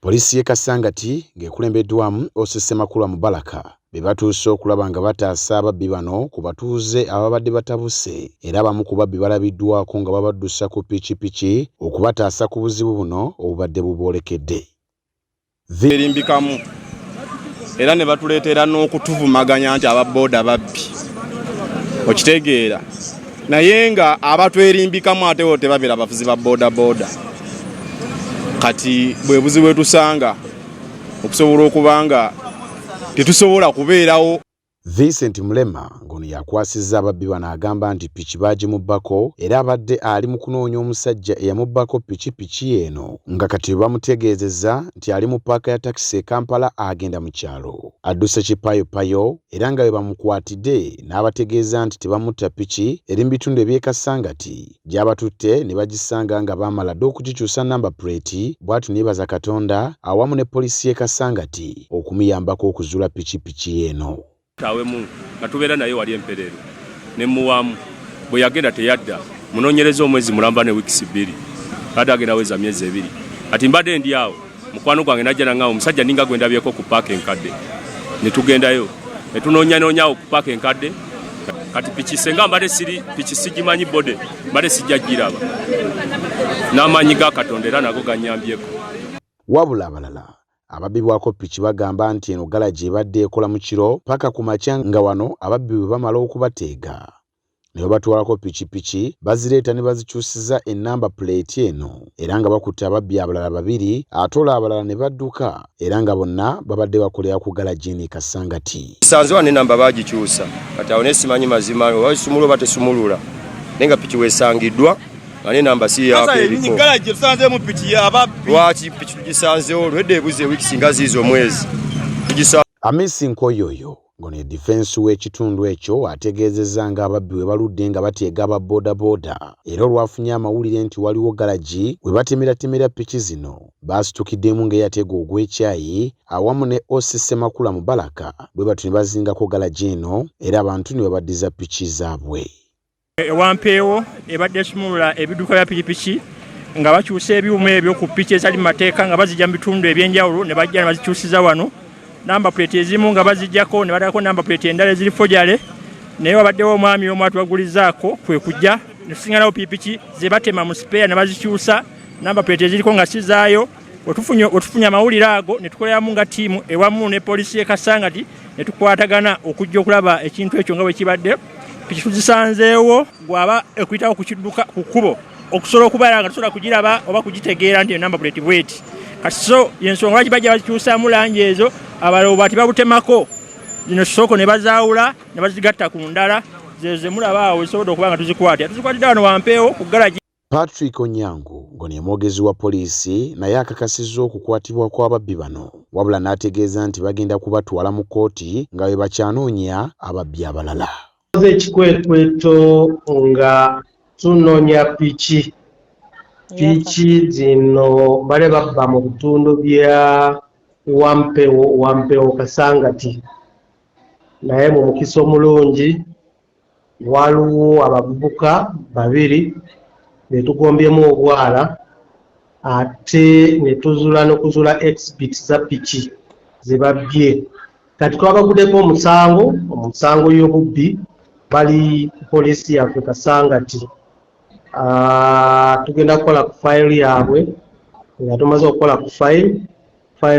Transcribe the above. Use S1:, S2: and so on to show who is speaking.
S1: Poliisi y'e Kasangati ng'ekulembeddwamu OC Ssemakula Mubaraka be batuuse okulaba nga bataasa ababbi bano ku batuuze ababadde batabuse era abamu ku babbi balabiddwako nga babaddusa ku pikipiki okubataasa ku buzibu buno obubadde buboolekedde.
S2: verimbikamu era ne batuleetera n'okutuvumaganya nti ababooda babbi okitegeera naye nga abatwerimbikamu atewo tebabeera abavuzi ba bodaboda kati bwe buzibu etusanga okusobola okuba nga tetusobola kubeerawo Vincent
S1: Mulema ng'ono y'akwasizza ababbi bano agamba nti piki baagimubbako era abadde ali mu kunoonya omusajja eyamubbako piki piki eno nga kati bamutegeezezza nti ali mu paaka ya takisi e Kampala agenda mu kyalo adduse kipayopayo era nga we bamukwatidde n'abategeeza nti tebamutta piki eri mu bitundu eby'e Kasangati gyabatutte ne bagisanga nga baamala dda okugikyusa nnamba puleeti bw'ati neebaza Katonda awamu ne poliisi y'e Kasangati okumuyambako okuzuula pikipiki ye eno. Kitawemu
S3: nga tubeera naye wali empereero ne muwaamu bwe yagenda teyadda munoonyereza omwezi mulamba ne wiikisi bbiri kati agenda weza myezi ebiri kati mbadde ndi awo. mukwano gwange najja nangamba omusajja ninga gwe ndabyeko ku paaka enkadde ne tugendayo ne tunoonyanonyawo ku paaka enkadde kati piki senga mbadde siri piki sigimanyi bode mbadde sijja giraba n'amaanyi ga katonda era nago ganyambyeko wabula
S1: abalala ababbibwako piki bagamba nti eno galagi ebadde ekola mu kiro paka ku makya nga wano ababbi bwe bamala okubateega ne babatwalako pikipiki bazireeta ne bazikyusiza ennamba puleeti eno era nga bakutte ababbi abalala babiri ate olwo abalala ne badduka era nga bonna babadde bakolera ku galajiini Kasangati. Nsanze wano ennamba
S2: baagikyusa kati awo naye simanyi mazima oba esumula oba tesumulula naye nga piki weesangiddwa nga n'ennamba si yaako erikoolwaki piki tugisanzewo olwedda ebuze wiiki singa ziiza omwezi tugisanze
S1: Amisi Nkoyoyo Ngono ye difensi w'ekitundu ekyo ategeezezza nga ababbi we baludde nga bateega aba bodaboda era olwafunye amawulire nti waliwo galagi we batemeratemera piki zino baasitukiddemu ng'eyatega ogw'ekyayi awamu ne OC Ssemakula Mubaraka bwe batyo ne bazingako galagi eno era abantu ne babaddiza piki zaabwe. Ewampeewo
S4: ebadde esumulula ebiduka bya pikipiki nga bakyusa ebyuma ebyo ku piki ezali mu mateeka nga bazijja mu bitundu ebyenjawulo ne bajja ne bazikyusiza wano namba puleeti ezimu nga bazijjako ne badako namba puleeti endala eziri fojale naye wabaddewo omwami omu atubagulizaako kwe kujja ne tusinganawo pikipiki ze batema mu sipeeya ne bazikyusa namba puleeti eziriko nga sizaayo wetufunye amawulire ago ne tukoleramu nga ttiimu ewamu ne poliisi y'e kasangati ne tukwatagana okujja okulaba ekintu ekyo nga bwe kibadde piki tuzisanzeewo gwaba ekuyitawo ku kidduka ku kkubo okusobola okubeera nga tusobola kugiraba oba kugitegeera nti enamba buleti bweti kati so yensonga lwaki bajja bazikyusaamu langi ezo abalala obwati babutemako zino soko ne bazaawula ne bazigatta ku ndala zezo zemulaba awo zisobodde okuba nga tuzikwatira tuzikwatidde wano wampeewo ku galagi Patrick Onyango
S1: ngono ye mwogezi wa poliisi naye akakasizza okukwatibwa kw'ababbi bano wabula n'ategeeza nti bagenda kubatwala mu kkooti nga bwe bakyanoonya ababbi abalala. Tukoze ekikwekweto
S5: nga tunoonya piki piki zino bale babba mu bitundu bya Wampewo Wampewo Kasangati naye mu mukisa omulungi Waliwo abavubuka babiri be tugombyemu obwala ate ne tuzula n'okuzula exhibit za piki ze babbye. Kati twabagudeko omusango omusango y'obubbi bali ku poliisi yaffe Kasangati. Tugenda kukola ku file yaabwe nga tumaze okukola ku file file.